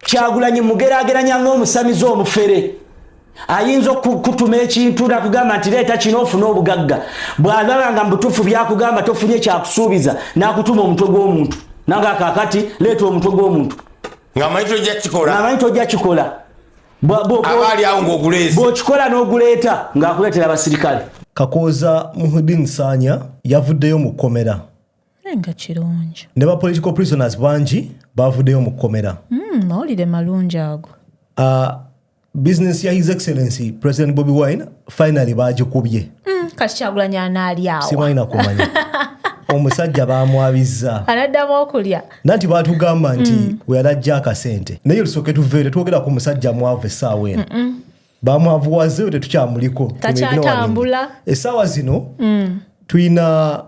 kyagulanyi mugerageranya ngaomusamize omufere ayinza okukutuma ekintu nakugamba nti leeta kino ofune obugagga bwalaba nga mubutuufu byakugamba tofunye kyakusuubiza nakutuma omutwe gw'omuntu nange akakati leeta omutwe gw'omuntu ngamanyi tojja kikola bwokikola n'oguleeta ng'akuleetera abasirikale kakooza muhudin saanya yavuddeyo mu kkomera nga kirungi ne ba political prisoners bangi bavuddeyo mu kkomera hmm, mawulire malungi ago ah, business ya his excellency president bobi wine finally bagikubye hmm, kati kyagulanyi anaalyawo simwalina kumanya omusajja bamwabizza anaddamu okulya nanti batugamba nti hmm. weyalajja akasente naye lusooke tuveere twogera ku musajja mwavu essaawa eno bamwavuwazeyo tetukyamuliko takyatambula essaawa zino tulina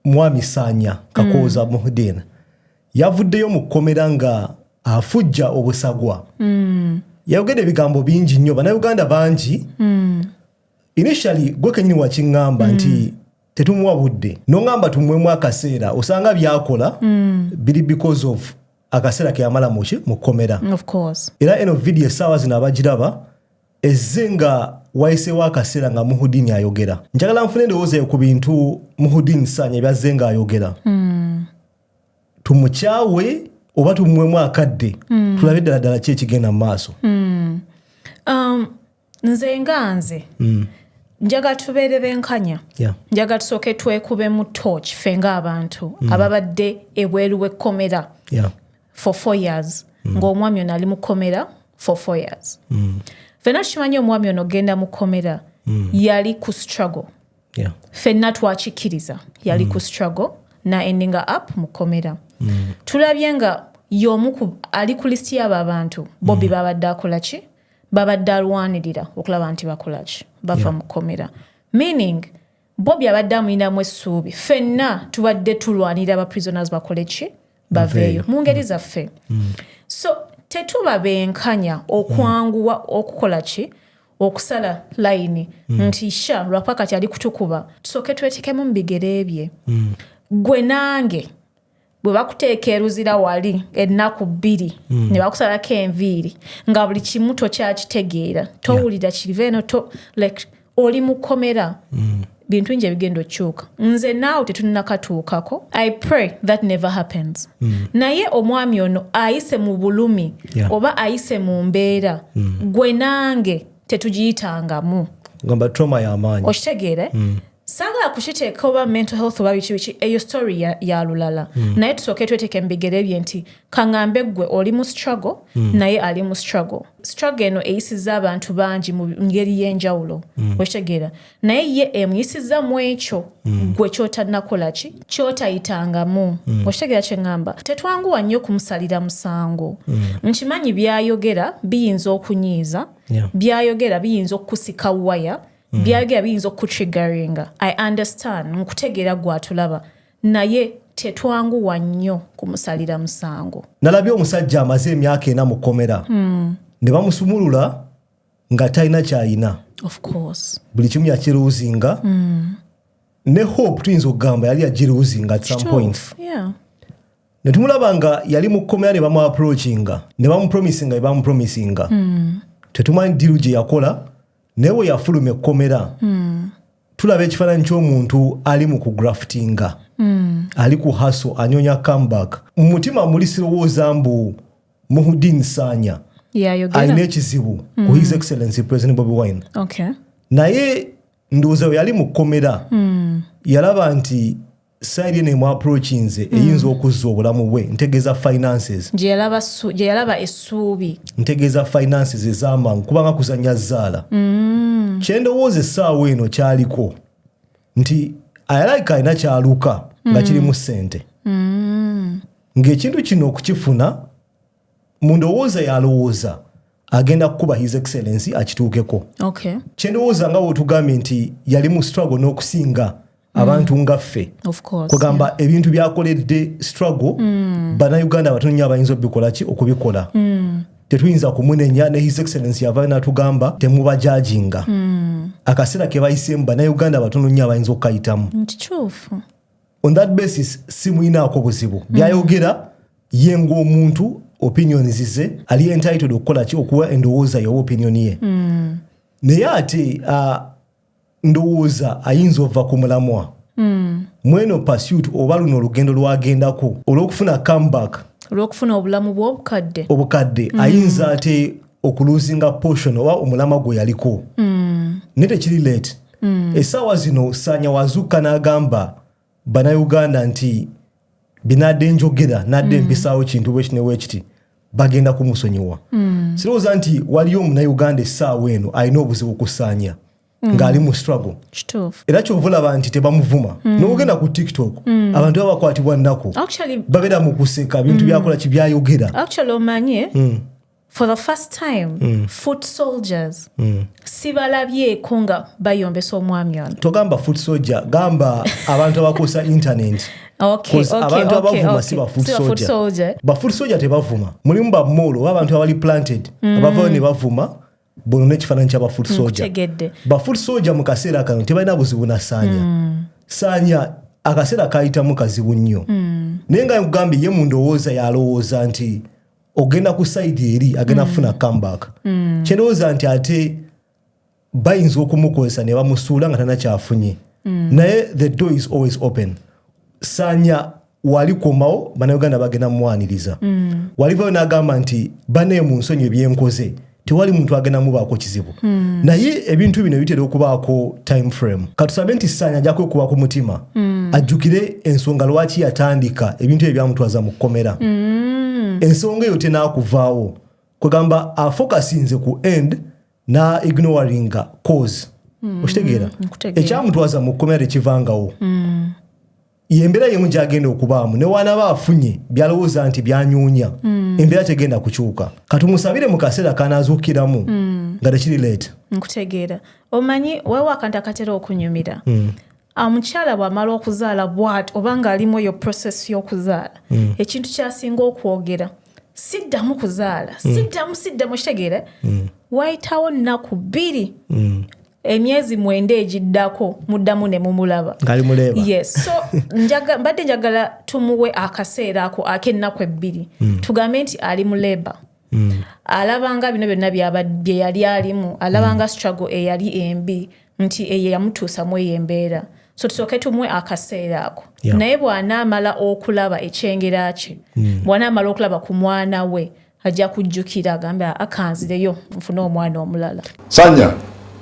Mwami Saanya Kakooza mm. Muhideen yavuddeyo mu kkomera nga afujja obusagwa mm. yayogedde ebigambo bingi nnyo bannayuganda bangi mm. initially gwe kenyini wakiŋŋamba mm. nti tetumuwa budde noŋŋamba tumwemu akaseera osanga byakola mm. biri because of akaseera keyamala muki mu kkomera era eno vidiyo essaawa zino abagiraba Ezze nga wayiseewo akaseera nga Muhudini ayogera. Njagala nfune endowooza yo ku bintu Muhudini Sanya byazze nga ayogera. Hmm. Tumukyawe oba tumuwemu akadde hmm. tulabe ddala ddala ki ekigenda mu maaso. Hmm. Um, nze nga nze njagala tubeere benkanya njagala tusooke twekubemu torch fe ng'abantu mm. ababadde ebweru w'ekkomera for four years mm. ng'omwami ono ali mu kkomera for four years mm. fenna tukimanyi omwami ono ogenda mu kkomera mm. yali ku struggle yeah. fenna twakikkiriza yali mm. ku struggle na endinga up mu kkomera mm. tulabye nga y'omu ali ku lisiti y'abo abantu bobi mm. babadde akola ki babadde alwanirira okulaba nti bakola ki bava yeah. mu kkomera meaning Bobi abadde amulinamu essuubi. Ffenna tubadde tulwanirira ba prisoners bakole ki? Baveeyo mu ngeri zaffe. Mm. So tetuba benkanya okwanguwa mm. okukola ki? okusala layini mm. nti sha lwakuba kati ali kutukuba tusooke twetekemu mu bigere bye mm. gwe nange bwe bakuteeka eruzira wali ennaku bbiri mm. ne bakusalako enviiri nga buli kimu tokyakitegeera towulira yeah. kiriva eno to like oli mukomera mm. bintu nje ebigenda okyuka nze naawe tetunnakatuukako i pray that never happens mm. naye omwami ono ayise mu bulumi yeah. oba ayise mu mbeera mm. gwe nange tetugiyitangamu okitegeere mm. sagala kukiteeka oba mental health oba biki biki eyo story ya, ya lulala mm. naye tusooke tweteke mubigere bye nti kaŋambe ggwe oli mu struggle mm. naye ali mu struggle struggle eno eyisiza abantu bangi mu ngeri y'enjawulo mm. okitegeera naye ye emuyisiza mu ekyo mm. gwe kyotanakola ki kyotayitangamu mm. okitegeera kyeŋŋamba tetwanguwa nnyo okumusalira musango mm. nkimanyi byayogera biyinza okunyiiza yeah. byayogera biyinza okukusika waya mm. byayogera biyinza okutrigaringa i understand nkutegeera gwatulaba naye tetwanguwa nnyo kumusalira musango nalabye omusajja amaze emyaka ena mu kkomera mm. ne bamusumulula nga talina kyayina buli kimu yakiruuzinga mm. ne hope tuyinza okugamba yali yagiruuzinga at some point yeah. netumulaba nga yali mu kkomera ne bamuaproachinga ne bamupromisinga ne bamupromisinga mm. tetumanyi diru gye yakola naye we yafuluma ekkomera hmm. tulaba ekifaananyi ky'omuntu ali mu kugraftinga hmm. ali ku haso anyonya comeback mu mutima muli sirowooza mbu muhudin saanya alina ekizibu ku his hmm. excellency president bobi wine naye ndowooza we yali mu kkomera yalaba nti sayiri eno emu approachinze hmm. eyinza okuzza obulamu bwe ntegeeza finances gye yalaba essuubi ntegeeza finances ez'amangu kubanga kuzannya zaala hmm. kyendowooza essaawa eno kyaliko nti ayalaika alina kyaluka nga hmm. kirimu ssente ng'ekintu kino okukifuna mu ndowooza yalowooza agenda kukuba his excellence akituukeko okay. kyendowooza nga wotugambye nti yali mu struggle n'okusinga no abantu mm. nga ffe kugamba ebintu byakoledde struggle mm. banauganda abatono nyo abayinza obikolaki okubikola mm. tetuyinza kumunenya ne his excellence yava natugamba temubajajinga akaseera kebayisemu banauganda abatono nyo abayinza okukayitamu on that basis simuyinaako buzibu byayogera ye ng'omuntu opinion zize ali entitled okukola ki okuwa endowooza yoba opinion ye mm. naye ate uh, ndowooza ayinza ova ku mulamwa mm. mweno pursuit oba luno olugendo lwagendako olw'okufuna comeback olw'okufuna obulamu bw'obukadde obukadde mm. ayinza ate okuluzinga portion oba omulama gwe yaliko mm. naye tekiri late mm. essaawa zino saanya wazuukka n'agamba banauganda nti binadde njogera nadde mm. mpisaawo kintu bwekiti newekiti bagenda kumusonyiwa mm. sirowooza nti waliyo omunauganda essaawa eno alina obuzibu kusaanya mm. ng'ali mu struggle era kyova olaba nti tebamuvuma mm. nogenda ku tiktok mm. abantu baba bakwatibwa nnaku babeera mu kuseka bintu mm. byakola kibyayogera mm. for the first time mm. foot soldiers mm. sibalabyeko nga bayombesa omwami ono togamba foot soldier gamba abantu abakozesa internet abantu abavuma si bafusoja bafusoja tebavuma mulimu bamoolo oba abantu abali planted mm. abavayo ne bavuma bono nekifaananyi kya bafoot mm, soja bafoot soja mu kaseera kano tebalina buzibu na saanya mm. saanya akaseera kayitamu kazibu nnyo naye nga nkugambye ye mu ndowooza yalowooza nti ogenda ku side eri agenda mm. kufuna comeback mm. kyendowooza nti ate bayinza okumukozesa ne bamusuula nga tanakyafunye mm. naye the door is always open sanya walikomawo banauganda bagenda mumwaniriza mm. walivayo nagamba nti banaye mu nsonyi ebyenkoze mm. tewali muntu agenda mubaako kizibu mm. naye ebintu bino bitera okubaako time frame katusabe nti saanya ajja kwekuba ku mutima mm. ajjukire ensonga lwaki yatandika ebintu ebyo byamutwaza mu kkomera mm. ensonga eyo tenakuvaawo kwegamba afokasinze ku end na ignoringa cause mm. okitegeera mm. ekyamutwaza mu kkomera tekivangawo mm. yembeera yemu gyagenda okubaamu newanaba afunye byalowooza nti byanyuunya mm. embeera tegenda kukyuka katumusabire mu kaseera kanazuukiramu mm. nga tekiri leeta nkutegeera omanyi waliwo akantu akatera okunyumira mm. omukyala bwamala okuzaala bwat oba ngaalimu eyo process y'okuzaala mm. ekintu kyasinga okwogera siddamu kuzaala mm. siddamu siddamu kitegeera mm. wayitawo nnaku bbiri mm. emyezi mwenda egiddako muddamu ne mumulaba yes so njaga, mbadde njagala tumuwe akaseera ako ak'ennaku ebbiri mm. tugambe nti ali mu leba mm. alabanga bino byonna bye yali alimu alabanga mm. struggle eyali embi nti eyo yamutuusa mu eyo embeera so tusooke tumwe akaseera ako yeah. naye bw'anaamala okulaba ekyengera kye mm. bw'anaamala okulaba ku mwana we ajja kujjukira agambe akanzireyo nfune omwana omulala sanya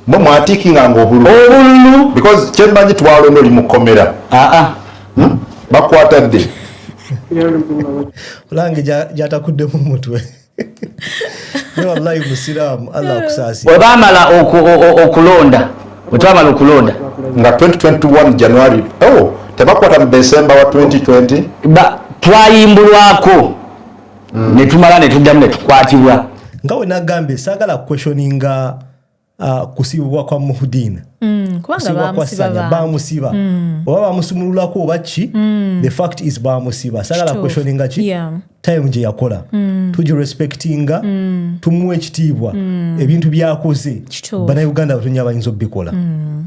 mwe mwatiikinga nga obululu obululu because kyembanyi twalonda oli mu kkomera aa ah, ah. hmm? bakwata dde olange gyatakuddemu mutwe webamala okulonda wetwamala okulonda nga 2021 january oh, tebakwata mu december wa 2020 twayimbulwako hmm. netumala netuddamu netukwatibwa nga wenagambye sagala questioninga uh, kusibibwa kwa muhudin mm, kusibibwa kwa sanya bamusiba mm. oba bamusumululako oba ki mm. the fact is bamusiba sagala questioninga ki yeah. time gye yakola mm. tuji respectinga mm. tumuwa ekitiibwa mm. ebintu byakoze banauganda batonya bayinza obikola mm.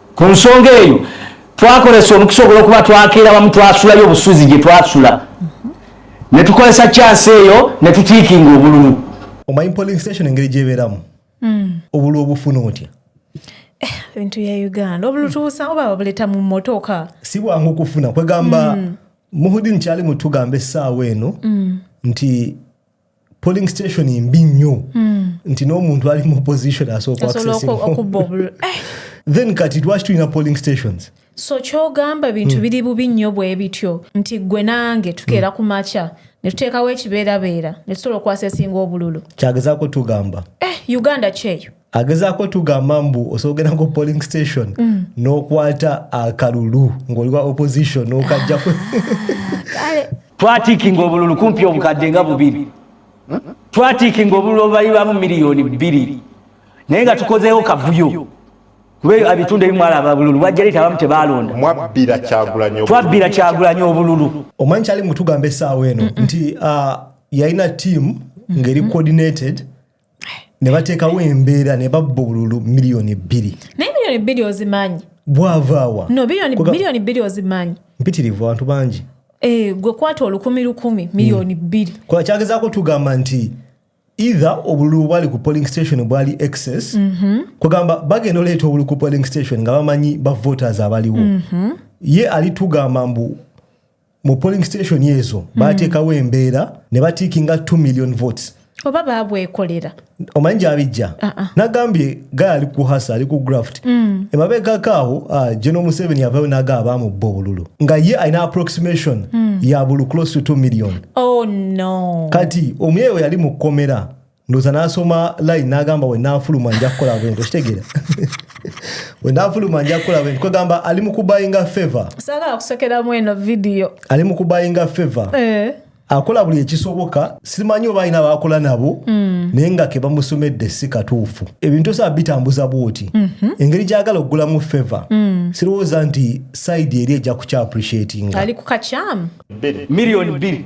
ku nsonga eyo twakozesa omukisa ogwolwokuba twakeera bamu twasulayo obusuzi gye twasula ne tukozesa kyansi eyo ne tutiikinga obululu omanyi polling station engeri gyebeeramu hmm. obulu obufuna otya eh, ebintu bya uganda obulutuusa oba babuleta mu motoka si bwangu kufuna kwegamba hmm. muhudin kyali mutugambe essaawa eno hmm. nti polling station mbi nnyo hmm. nti n'omuntu ali mu position asooka eh. then kati lwaki tulina polling stations so kyogamba bintu hmm. biri bubi nnyo bwe bityo nti gwe nange tukeera hmm. ku makya ne tuteekawo ekibeerabeera ne tusobola okukwasa esinga obululu kyagezaako tugamba eh, uganda kyeyo agezaako tugamba mbu osobola ku polling station mm. n'okwata akalulu ng'oliwa opposition n'okajjaku twatiikinga obululu kumpi obukadde nga bubiri twatiikinga obululu obubalirwamu miliyoni bbiri naye nga tukozeewo kavuyo kuba ebitundu ebimu alaba bululu bwajja leeta abamu tebaalonda twabbira kyagulanyi obululu omanyi kyali mutugamba essaawa eno nti ah, yalina tiimu ng'eri coordinated mm -mm. ne bateekawo embeera ne babba obululu miliyoni bbiri naye miliyoni bbiri ozimanyi bwavaawa no miliyoni bbiri ozimanyi mpitirivu abantu bangi eh, gwe kwata olukumi lukumi miliyoni hmm. bbiri kuba kyagezaako tugamba nti either obululu bwali ku polling station bwali excess mhm. kugamba bagenda oleeta obululu ku polling station nga bamanyi bavoters abaliwo mhm. ye alitugamba mbu mu polling station ezo mm. bateekawo embeera ne batiikinga 2 million votes oba babwekolera omanyi gyabijja ah, ah. nagambye gaya ali kuhasa ali ku graft mm. emabegako awo ah, geno museveni yavayo naga abamubba obululu nga ye alina approximation mm. ya bulu close to 2 million oh, no. kati omuyeewe yali mu kkomera ndoza nasoma line nagamba wenafuluma nja kukola bwento kitegera wenafuluma nja kukola bwento kwegamba ali mukubayinga favor sagala kusekeramu eno video ali mukubayinga favor eh. akola buli ekisoboka simanyi oba alina bakola nabo mm. naye nga kebamusomedde si katuufu ebintu osaba bitambuza bwoti mm -hmm. engeri gyagala okugulamu favor mm. sirowooza nti saidi eri ejja kukyappreciatinga ali kukakyamu milioni bbiri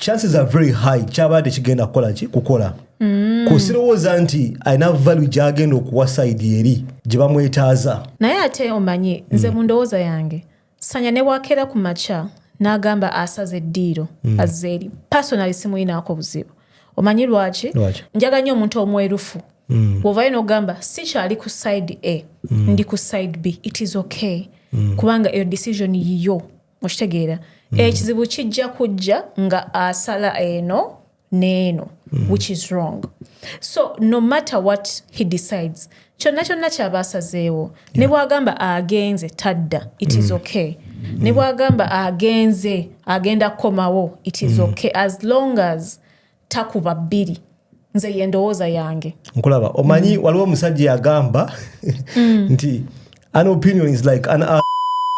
chances are very high kyaba tekigenda kukola ki kukola mm. kusirowooza nti alina valu gyagenda okuwa saidi eri gye bamwetaaza naye ate omanyi nze mm. mu ndowooza yange sanya ne bwakeera ku makya n'agamba asaza eddiiro mm. azze eri pasonali simulinaako buzibu omanyi lwaki njaga nnyo omuntu omwerufu mm. bwovayo n'ogamba sikyali ku side a mm. ndi ku side b it is okay mm. kubanga eyo decision yiyo okitegeera mm. ekizibu kijja kujja nga asala eno neeno mm. which is wrong so no matter what he decides kyonna kyonna kyaba asazeewo yeah. ne bwagamba agenze tadda it is mm. okay mm. ne bwagamba agenze agenda kukomawo it is mm. okay as long as takuba bbiri nze yendowooza yange nkulaba omanyi mm. waliwo omusajja yagamba mm. nti an opinion is like an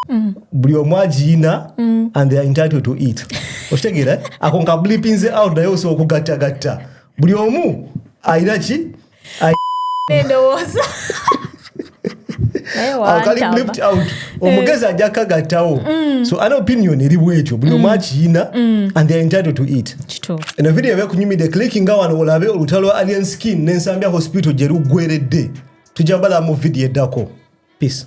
mm. buli omu agiyina mm. and they are entitled to it okitegeera ako nkablipinze out naye osobola okugattagatta buli omu ayina ki endowooza omugezi ajja kagattawo mm. so an opinion eri bwekyo buli omu mm. akiyina mm. and they're entitled to it eno video eba ekunyumidde clickinga wano olabe olutalo lwa alien skin nensambya hospital gye luggweredde tujja bala mu video eddako peace